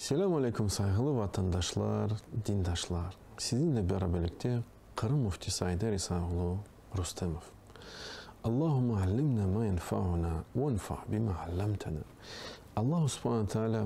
Selâm aleyküm sayğılı vatandaşlar, dindaşlar! Siziñle beraberlikte Qırım müftisi Ayder İsaoğlu Rustemov. Allahümme allimna ma yenfauna, venfa bima allamtana. Allahu subhana taala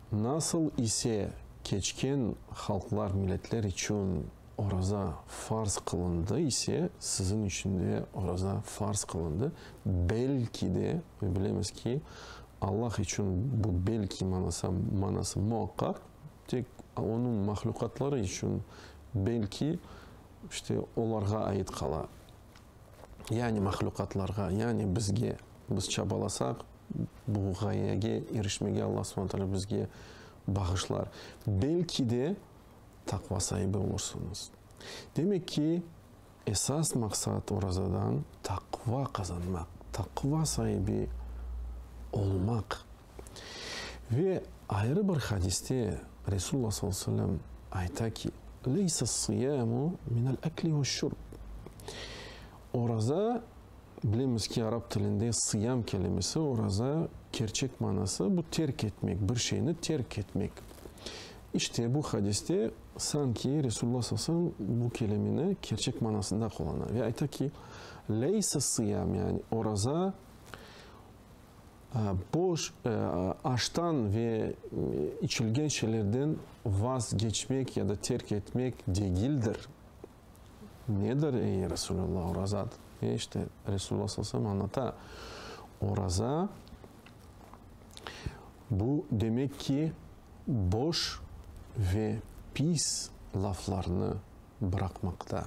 Nasıl ise keçken halqlar, milletler içün oraza farz qılındı ise, siziñ içün de oraza farz qılındı. Belki de, ve bilemiz ki, Allah içün bu belki manası, manası muaqqaq, tek Onıñ mahluqatları içün belki, işte, olarğa ait qala. Yani mahluqatlarğa, yani bizge, biz çabalasaq, Bu ğayege irişmege Alla subana taalâ bizge bağışlar. Belki de taqva saibi olursıñız. Demek ki, esas maqsat orazadan taqva qazanmaq, taqva saibi olmaq. Ve ayrı bir hadiste Resulullah sallallahu aleyhi ve sellem ayta ki, Leysa sıyâmu minel ekli ve şurb. Oraza, Bilemiz ki, arap tilinde sıyam kelimesi, oraza, kerçek manası, bu terk etmek, bir şeyni terk etmek. İşte, bu hadiste sanki Resulullah sallallahu aleyhi ve sellem bu kelimeni kerçek manasında qulana ve ayta ki, Leyse sıyam, yani oraza boş, aştan ve içilgen şeylerden vazgeçmek ya da terk etmek degildir. Nedir, ey Resulullah, orazat? E, işte, Resulullah sallallahu aleyhi ve sellem añlata, oraza, bu demek ki, boş ve pis laflarnı bıraqmaqta.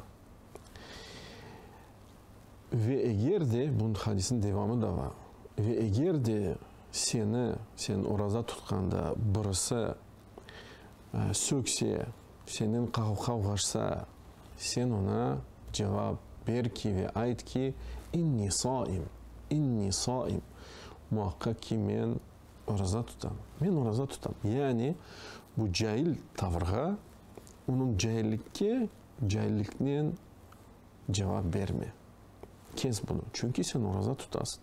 Ve eger de, bunıñ hadisniñ devamı da bar, ve eger de seni, sen oraza tutqanda birisi, sökse, senden qavğaşsa, sen oña cevap ber ki ve ayt ki, İnni soim, İnni soim, muaqqaq ki, men oraza tutam, men oraza tutam. Yani bu cail tavrğa, onıñ caillikke, cailliknen, Cevap berme, kes bunı, çünki sen oraza tutasıñ.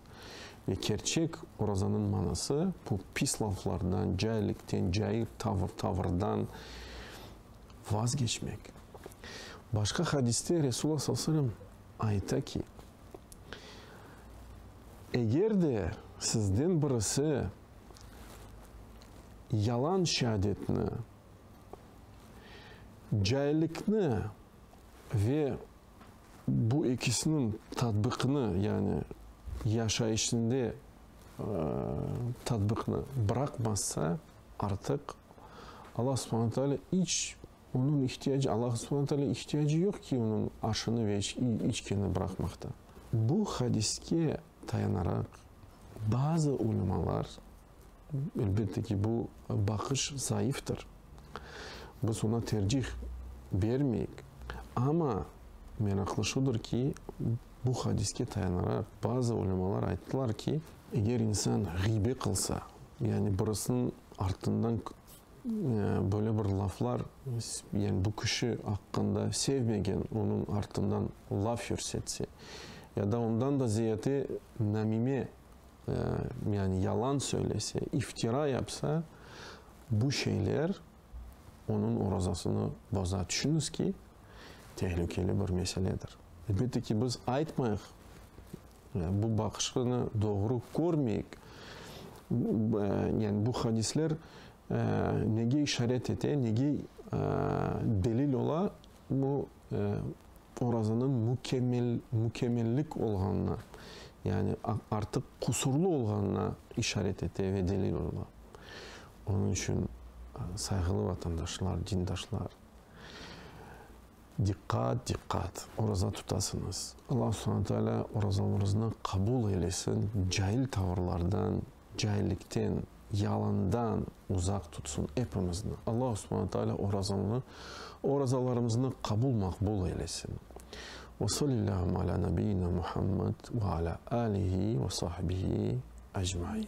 Ve kerçek orazanıñ manası, bu pis laflardan, caillikten, cair tavır, tavırdan vazgeçmek. Başqa hadiste Resulullah sallallahu aleyhi ve sellem ayta ki, Eger de sizden birisi yalan şeadetni, caillikni, Ve bu ekisiniñ tatbiqini, yani yaşayışında tatbiqini bıraqmazsa, artıq Alla subhana taalâ iç onıñ ihtiyacı, Alla subhana taalâ ihtiyacı yoq ki, onıñ aşını ve içkeni bıraqmaqta. Bu hadiske dayanaraq bazı ulemalar Elbette ki, bu baqış zayıftır. Biz oña tercih bermeyik. Amma meraqlı şudır ki, bu hadiske tayanaraq bazı ulemalar ayttılar ki, eger insan ğiybe qılsa, yani birisiniñ artından böyle bir laflar, yani bu kişi aqqında sevmegen onıñ artından laf yürsetse, ya da ondan da ziyade namime Yani yalan söylese, iftira yapsa, bu şeyler onıñ orazasını boza. Tüşüniz ki, tehlükeli bir meseledir. Elbette ki, biz aytmayıq, bu baqışını doğru körmeyik. Yani bu hadisler nege işaret ete, nege delil ola? Bu orazanıñ mükemmel, mükemmellik olğanına, yani artıq qusurlı olğanına işaret ete ve delil ola. Onıñ içün, sayğılı vatandaşlar, dindaşlar, diqqat, diqqat, oraza tutasıñız. Alla subhane taala orazamırıznı qabul eylesin, cail tavırlardan, Caillikten, yalandan uzaq tutsın epimizni. Alla Subhana Taala orazanlı, orazalarımıznı qabul, maqbul eylesin. Ve solillahum ala nabiyina Muhammad ve ala alihi ve sahibihi ecmain.